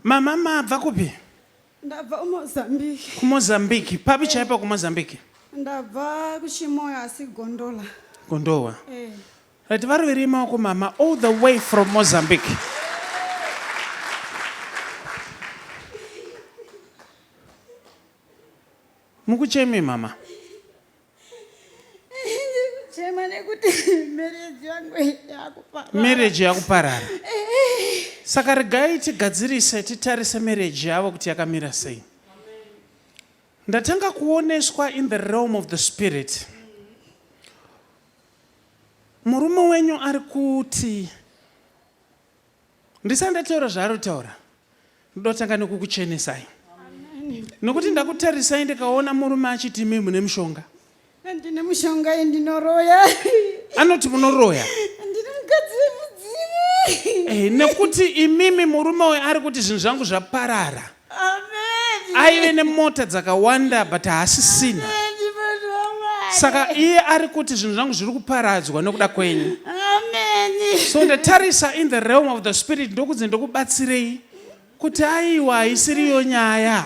Mama mabva kupi? Ndabva kuMozambique. KuMozambique. Papi eh. chaipo kuMozambique? Ndabva kuChimoyo asi Gondola. Gondola. Eh. Right, vari viri maoko mama all the way from Mozambique. Mukuchemi mama. chema nekuti marriage yangu yakuparara marriage yakuparara saka regai tigadzirise titarise marriage yavo kuti yakamira sei ndatanga kuoneswa in the realm of the spirit murume wenyu ari kuti ndisati ndataura zvaari kutaura ndoda kutanga nekukuchenesai nokuti ndakutarisai ndikaona murume achiti imi mune mushonga ndine mushonga iyi ndinoroya anoti munoroya ndine mukadzi wemudzimu eh, nekuti imimi murume uyo ari kuti zvinhu zvangu zvaparara aive nemota dzakawanda but haasisina saka iye ari kuti zvinhu zvangu zviri kuparadzwa nokuda kwenyu so ndatarisa in the realm of the spirit ndokunzi ndokubatsirei kuti aiwa haisiriyo nyaya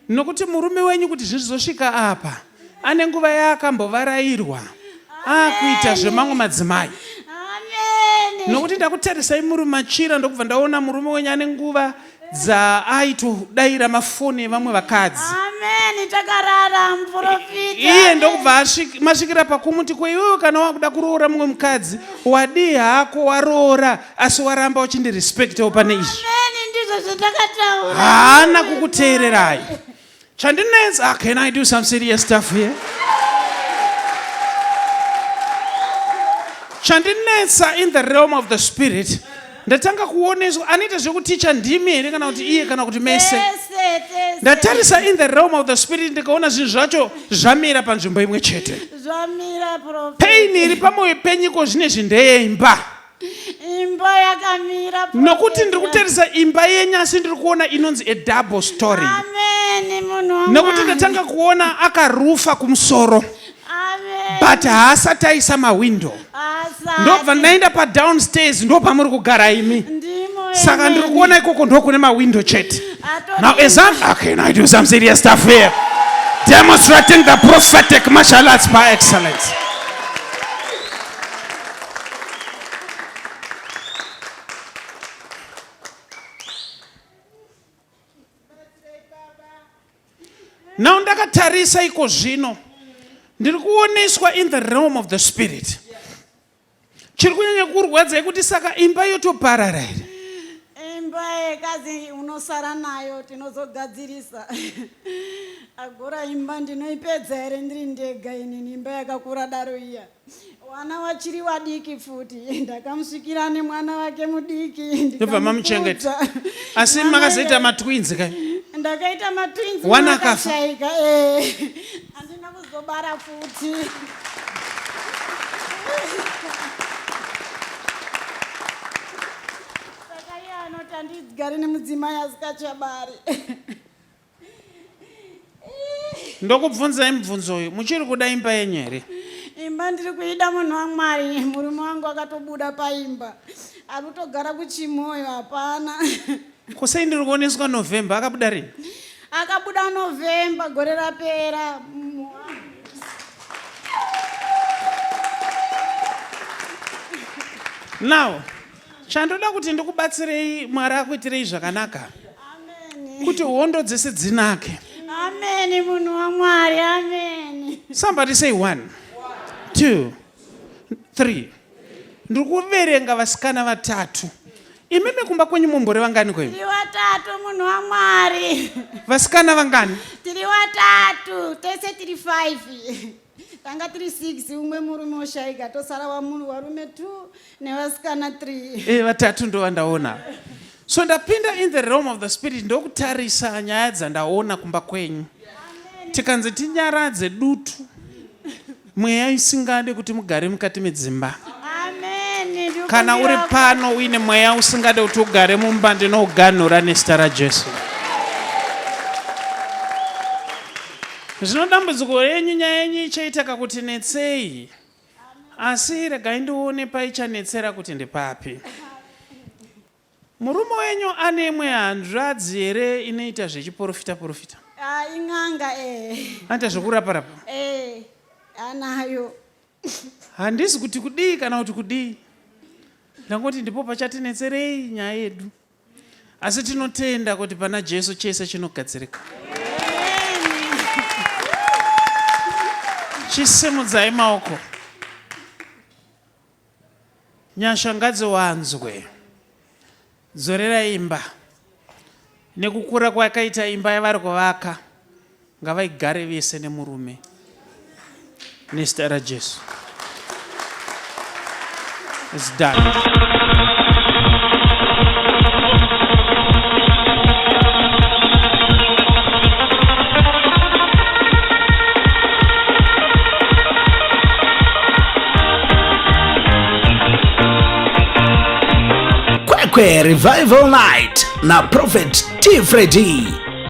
nokuti murume wenyu kuti zvinhu zvizosvika apa Ane nguva yaakambovarairwa akuita zvemamwe madzimai nokuti ndakutarisai muri machira ndokubva ndaona murume wenyu ane nguva dzaaitodaira mafoni evamwe vakadzi iye ndokubva masvikira pakumuti ko iwewe kana wakuda kuroora mumwe mukadzi wadii hako waroora asi waramba uchindirespectawo pane izvi haana kukuteererai Chandinetsa, ah, can I do some serious stuff here? Chandinetsa in the realm of the spirit ndatanga kuoneswa anoita zvekuticha ndimi here kana kuti iye kana kuti mese ndatarisa in the realm of the spirit ndikaona zvinhu zvacho zvamira panzvimbo imwe chete pain iri pamwoyo penyiko zvine zvindeyeimba imba yakamira nokuti ndiri kutarisa imba yenyu asi ndiri kuona inonzi a double story nokuti ndatanga kuona akarufa kumusoro but haasati aisa mahwindo ndobva ndaenda padownstairs ndo pamuri kugara imi saka ndiri kuona ikoko ndo kune mahwindo chete now as I'm, okay, now I do some serious stuff here demonstrating the prophetic martial arts by excellence now ndakatarisa iko zvino ndiri kuoneswa in the realm of the spirit chiri kunyanya kurwadza yekuti saka imba yotoparara here imba yekazi unosara nayo tinozogadzirisa agora imba ndinoipedza here ndiri ndega inini imba yakakura daro iya Wana wachiri wadiki futi ndakamusvikira nemwana wake mudiki Ndobva mamuchengeta. ndikamukudza. asi Mwana makazoita iye- matwins ka ndakaita matwins Wana mwana akafa. akashaika eh. handina kuzobara futi saka iye anoti handigare nemudzimai asikachabari ndokubvunzai mubvunzo uyu muchiri kuda imba yenyu here imba ndiri kuida munhu wamwari murume wangu akatobuda paimba ari kutogara kuchimoyo hapana kusei ndiri kuoneswa november akabuda rini akabuda november gore rapera now Chandoda kuti ndikubatsirei Mwari akuitirei zvakanaka. Amen. Kuti hondo dzese dzinake. Amen munhu waMwari. Amen. Somebody say one. Two. Three. Ndiri kuverenga vasikana vatatu. Imimi kumba kwenyu mumbori vangani kwenyu? Tiri vatatu munhu waMwari. Vasikana vangani? Tiri vatatu. Tese tiri five. tanga tiri 6 umwe murume oshaika tosara wamunhu warume 2 nevasikana 3 e eh, vatatu ndovandaona so ndapinda in the realm of the spirit ndokutarisa nyaya dzandaona kumba kwenyu tikanzi tinyaradze dutu mweya isingade kuti mugare mukati medzimba kana uri pano uine mweya usingade kuti ugare mumba ndinouganhura nezita rajesu Zvino dambudziko renyu nyaya yenyu ichaitaka kuti netsei, asi regai ndione paichanetsera kuti ndepapi. Murume wenyu ane imwe hanzvadzi here inoita zvechiporofita porofita? Ah, in'anga eh. Anoita zvekurapa rapa? Eh, anayo. Handisi kuti kudii kana kuti kudii. Ndangoti ndipo pachatinetserei nyaya yedu. asi tinotenda kuti pana jesu chese chinogadzirika chisimudzai maoko nyasha ngadziwanzwe dzorera imba nekukura kwakaita imba yavari kuvaka Ngavaigare vese nemurume nezita raJesu. It's done. Kwekwe Revival Night na Prophet T Freddy.